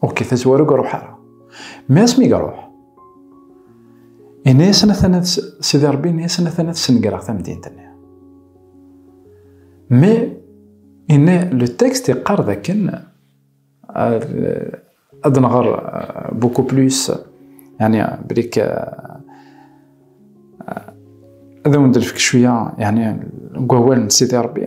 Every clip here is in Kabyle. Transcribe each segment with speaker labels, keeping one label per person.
Speaker 1: Ok, tazwara ur iruḥ ara. Mi asmi iruḥ, yenna-yasen atan ad Sidi Rebbi yenna-yasen atan ad snegreɣ tamdint-nni. Mi yenna le texte yeqqar dakken ad nɣer beaucoup plus yani brik ad awen-d-nefk cwiya yani deg wawal n Sidi Rebbi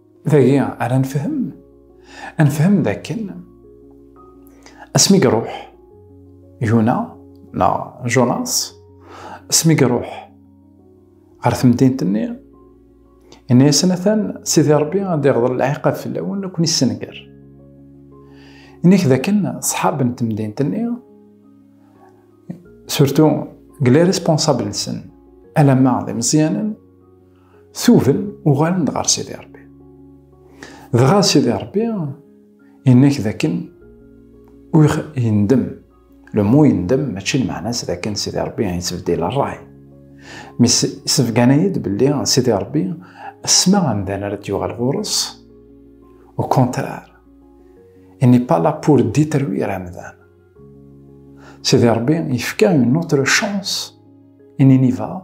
Speaker 1: Dagi ara nefhem, nefhem dakken asmi iruḥ Yuna neɣ Jonas, asmi iruḥ ɣer temdint-nni, yenna-yasen atan Sidi Ṛebbi ad iɣḍel lɛiqab fell-awen ad ken-issenger. Ini-k dakken ṣṣḥab n temdint-nni, surtu deg les responsables-nsen, alamma d imeẓyanen, tuben uɣalen-d ɣer Sidi Rebbi. Dɣa Sidi Rebbi yenna-k dakken ur yendem. Le mot yendem mačči lmeɛna-s dakken Sidi Rebbi yettbeddil rray. Mi sebgan-iyi-d belli Sidi Rebbi asma amdan ara d-yuɣal ɣur-s, au contraire, il n'est pas là pour détruire amdan. Sidi Rebbi yefka une autre chance, une inivale,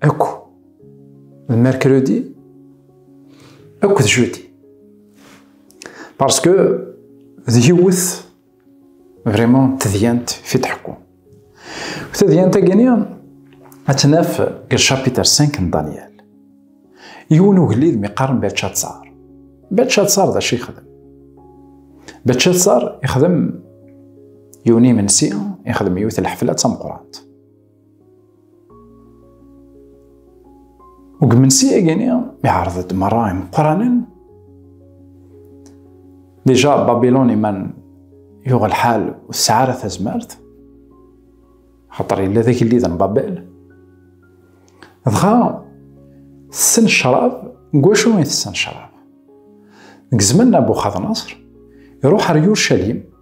Speaker 1: Akk d mercredi, akk d jeudi. Parce que d yiwet vraiment tedyant fi tḥekku. Tedyant agini ad tnaf deg chapitre 5 n Daniel. Yiwen ugellid mi qqaren Belchatsar. Belchatsar d acu yexdem? Belchatsar yexdem yiwen imensi, yexdem yiwet lḥefla d tameqrant. Deg imensi-agi-nni, iɛreḍ-d merra imeqqranen. Dija Babilun iman yuɣ lḥal ur tesɛi ara tazmert, xaṭer yella d agellid n Babel. Dɣa tessen ccrab, deg wacu i tessen ccrab? Deg zzman n Nabuxadnaṣr, iruḥ ar Yurcalim,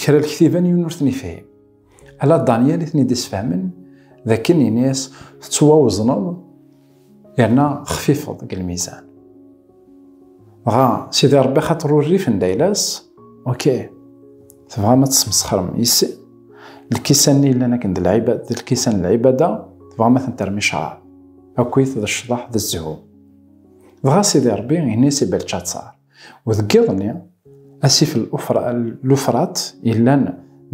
Speaker 1: Kra lektiban yiwen ur ten-ifhim. Ala Daniel i ten-id-isfehmen d akken ini-as tettwawezneḍ yerna xfifeḍ deg lmizan. Dɣa Sidi Rebbi xaṭer ur rifen d ayla-s, oke, tebɣam ad tesmesxrem yis-i? Lkisan-nni yellan akken d lɛibad, d lkisan n lɛibada, tebɣam ad tent-terrem i ccṛeɛ. Akkit d ccḍeḥ d zzhu. Dɣa Sidi Rebbi ini-as i Belcatsar. Wadeg iḍ-nni, asif Lufrat yellan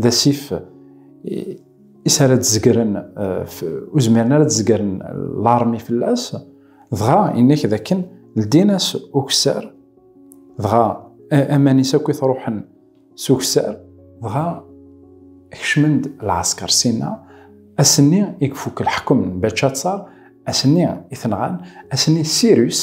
Speaker 1: d asif is ara d-zegren, ur zmiren ara ad zegren larmi fell-as, dɣa yenna-k d akken ldin-as ukessar, dɣa aman-is akk i truḥen s ukessar, dɣa kecmen-d lɛesker Sina, ass-nni i ifuk leḥkem n Bačatsar, ass-nni i t-nɣan, ass-nni Sirus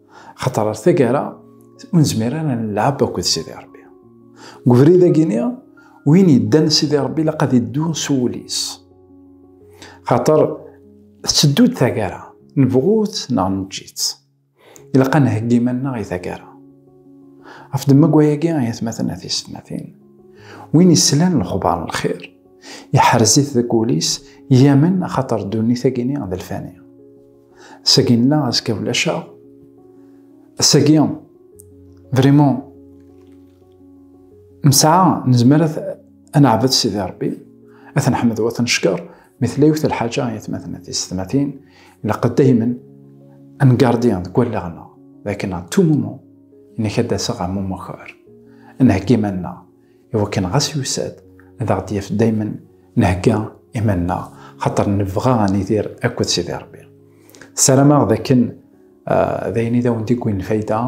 Speaker 1: خاطر ɣer tagara ur nezmir ara nlɛab akked Sidi Ṛebbi. Deg ubrid-agi-ni, win yeddan Sidi Ṛebbi ilaq ad iddu s wul-is. Xaṭer tetteddu-d tagara, nebɣu-tt neɣ neǧǧi-tt. Ilaq ad nheggi iman-nneɣ i tagara. Ɣef demmag wayagi, ay atmaten at yessetmatin, win yeslan lexbar n lxir, yeḥrez-it deg wul-is, yamen axaṭer ddunit-agi-ni d lfani. Sagi nella azekka ulac-aɣ. Sagi, vraiment, nesɛa, nezmer ad neɛbed Sidi Rebbi, ad neḥmed wa tencekker, mi tella yiwet lḥaǧa i atmaten a tisetmatin, ilaq daymen ad ngardi deg wallaɣ-nneɣ d akken à tout moment, nekk ad d-aseɣ am umukar, ad nheggi iman-nneɣ. iwakken ɣas yusa-d ad aɣ-d-yaf daymen nhegga iman-nneɣ xaṭer nebɣa ad nidir akked Sidi Rebbi. Ssarameɣ d akken d ayen i d awen-d-iggwin lfayda,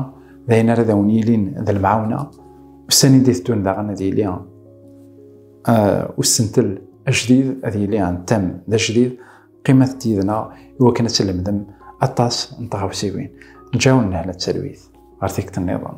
Speaker 1: d ayen ara d awen-yilin d lemɛawna, ussan i d-iteddun daɣen ad yili ussentel ajdid, ad yili antam d ajdid, qqimet-d yid-neɣ iwakken ad tlemdem aṭas n tɣawsiwin. Ǧǧaw nnehla d talwit ɣer tikkelt-nniḍen.